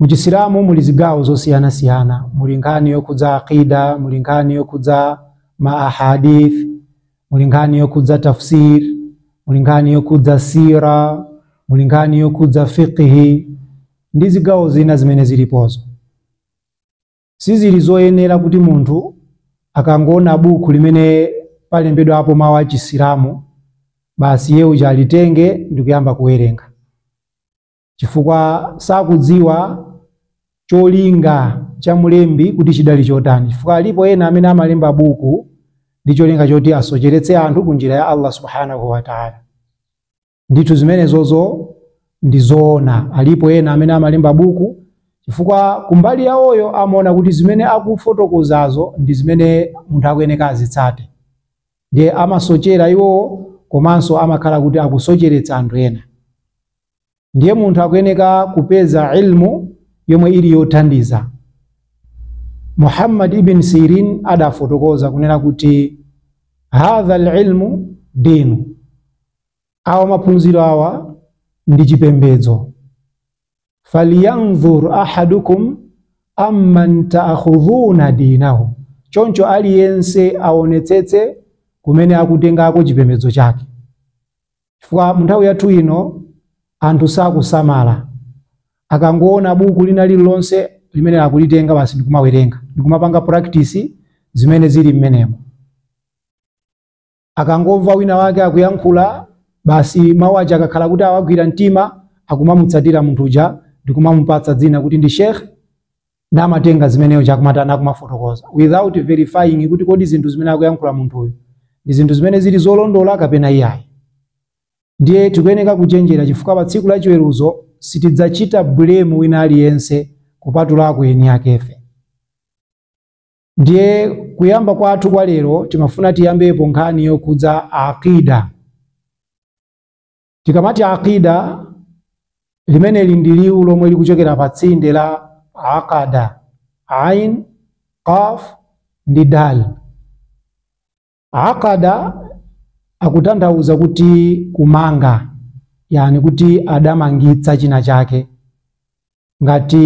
Mu Chisilamu muli zigawo zosiyanasiyana, muli nkhani yokhudza aqida, muli nkhani yokhudza ma ahadith, muli nkhani yokhudza tafsir, muli nkhani yokhudza sira, muli nkhani yokhudza fiqhi ndi zigawo zina zimene zilipozo. Sizili zoyenera kuti munthu akangoona buku limene palembedwapo mawu a Chisilamu basi iye uja alitenge ndikuyamba kuwerenga. chifukwa sakudziwa cholinga cha mlembi kuti chidali chotani chifukwa alipo ena amene amalemba buku ndi cholinga choti asocheretse anthu ku njira ya allah subhanahu wataala ndithu zimenezozo ndi zoona alipo ena amene amalemba buku chifukwa kumbali yawoyo amaona kuti zimene akufotokozazo ndi zimene munthu akuyeneka azitsate ndiye amasochera iwowo komanso amakhala kuti akusocheretsa anthu ena ndiye munthu akuyeneka kupeza ilmu yomwe ili yothandiza muhammad ibn sirin adafotokoza kunena kuti hadha alilmu dinu awa maphunziro awa ndi chipembedzo falyanzur ahadukum amman taakhudhuna dinahu choncho aliyense aonetsetse kumene akutengako chipembedzo chake chifukwa munthawi yathu ino anthu sakusamala akangoona buku lina lililonse limene akulitenga basi ndikumawerenga ndikumapanga practice zimene zili mmenemo akangomva wina wake akuyankhula basi mawu aja akakhala kuti awagwira mtima akumamutsatira munthu uja ndikumamupatsa dzina kuti ndi sheikh namatenga zimeneyo chakmatani akumafotokoza without verifying kuti kodi zinthu zimene akuyankhula munthuyo ndi zinthu zimene zili zolondola kapena iyayi ndiye tikuyeneka kuchenjera chifukwa pa tsiku la chiweruzo sitidzachita blame wina aliyense kupatulako eni akefe ndiye kuyamba kwathu kwa lero timafuna tiyambepo nkhani yokhudza aqida Tikamati aqida limeneli ndi liwu lomwe likuchokera pa tsinde la aqada, ain, qaf ndi dal. Aqada akutanthauza kuti kumanga, yani kuti adamangitsa china chake. Ngati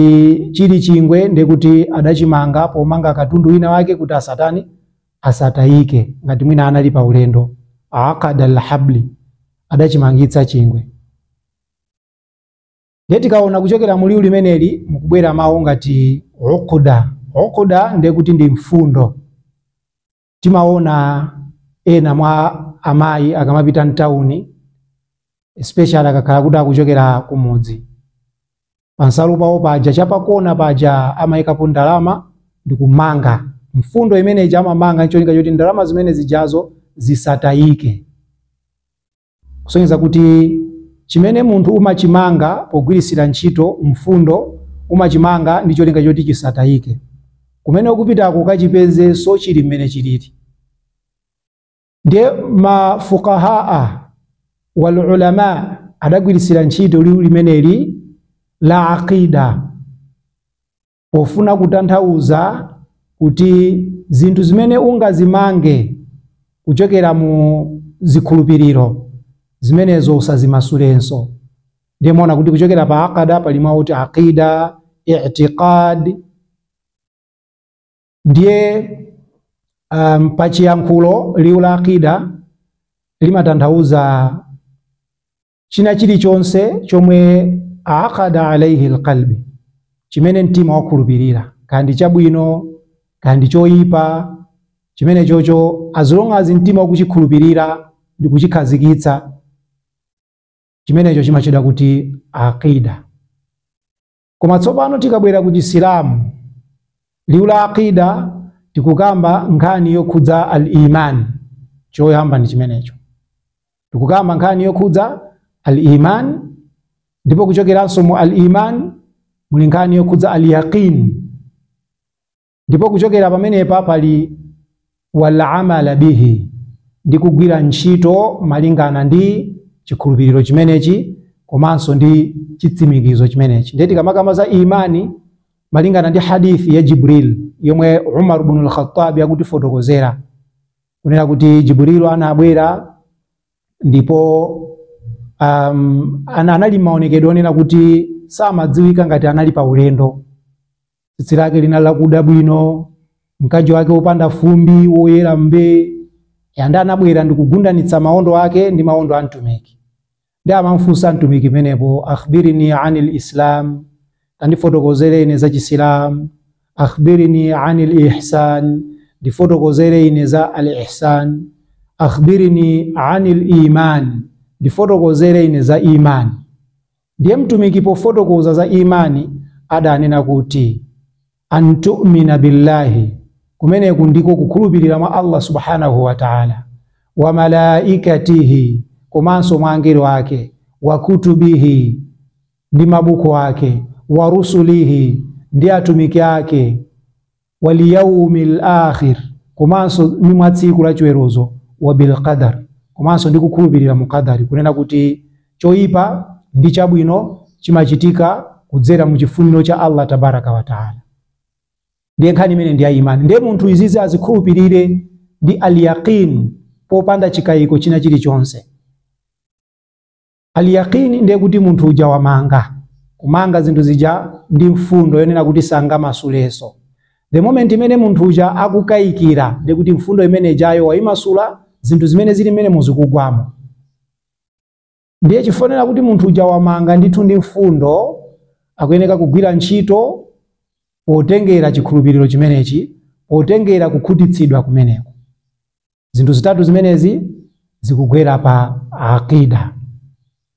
chili chingwe ndiye kuti adachimanga pomanga katundu wina wake kuti asatani asatayike, ngati mwina anali pa ulendo. Aqada alhabli, adachimangitsa chingwe. Ndiye tikaona kuchokera mu liwu limeneli mukubwera mawu ngati uqda. Uqda ndiye kuti ndi mfundo. timaona ena mwa amayi akamapita mtawuni especially akakhala kuti akuchokera kumudzi pansalu pawo paja chapakona paja amayikapo ndalama ndi kumanga mfundo imene ija amamanga ncholinga choti ndalama zimene zijazo zisatayike Kusonyeza kuti chimene munthu umachimanga pogwiritsira ntchito mfundo, umachimanga ndi cholinga choti chisatayike. Kumene ukupitako ukachipezenso chili mmene chilili. Ndiye ma fuqahaa wal ulama adagwiritsira ntchito liwu limeneli la aqidah. pofuna kutanthauza kuti zinthu zimene ungazimange kuchokera mu zikhulupiriro zimenezo usazimasulenso ndiye muona kuti kuchokera pa aqada pali mawu oti aqida itiqad ndiye pa chiyankhulo liwu la aqida limatanthauza china chilichonse chomwe aqada alaihi alqalbi chimene mtima wakhulupirira kaya ndi chabwino kaya ndi choyipa chimene chocho as long as mtima wako wachikhulupirira ndi kuchikhazikitsa chimenecho chimatchedwa kuti aqida koma tsopano tikabwera ku chisilamu liwu la aqida tikukamba nkhani yokhudza al iman choyamba ndi chimenecho tikukamba nkhani yokhudza al iman ndipo kuchokeranso mu al iman muli nkhani yokhudza al yaqin ndipo kuchokera pamenepa pali walamala bihi ndi kugwira ntchito malingana ndi chikhulupiriro chimenechi komanso ndi chitsimikizo chimenechi ndiye tikamakamba za imani malingana ndi hadithi ya jibril yomwe umar bnu lkhattab akutifotokozera kunena kuti jibril anabwera ndipo anali maonekedwe onena kuti samadziwika ngati anali pa ulendo tsitsi lake linali lakuda bwino mkanjo wake wopanda fumbi woyera mbee yanda anabwera ndikugundanitsa maondo ake ndi maondo a mtumiki nde amamfunsa mtumiki pamenepo akhbirini ani lislam tandifotokozere ine za chisilamu akhbirini ani lihsan ndifotokozere ine za al ihsan akhbirini ani liman ndifotokozere ine za imani Ndiye Mtumiki pofotokoza za imani adanena kuti antumina billahi, kumeneku ndiko kukhulupirira mwa Allah subhanahu wa ta'ala, wa malaikatihi, komanso mwa angelo ake, wa kutubihi, ndi mabuku ake, wa rusulihi, ndi atumiki ake, waliyaumil akhir komanso ni mwa tsiku la chiweruzo wa bilqadar komanso ndi kukhulupirira mu qadari kunena kuti choyipa ndi chabwino chimachitika kudzera mu chifuniro cha allah tabaraka wataala ndiye nkhani imeneyi ndi ya imani ndiye munthu izizi azikhulupirire ndi alyaqin popanda chikayiko china chilichonse Al-yaqini ndiye kuti munthu uja wamanga kumanga zinthu zija ndi mfundo yonena kuti sangamasuleso. The moment imene munthu uja akukayikira ndiye kuti mfundo imene ijayo wayimasula zinthu zimene zili mmene muzikugwamo. Ndiye chiwonere kuti munthu uja wamanga ndithu ndi mfundo akuyeneka kugwira ntchito potengera chikhulupiriro chimenechi potengera kukhutitsidwa kumeneko. zinthu zitatu zimenezi zikugwera pa aqida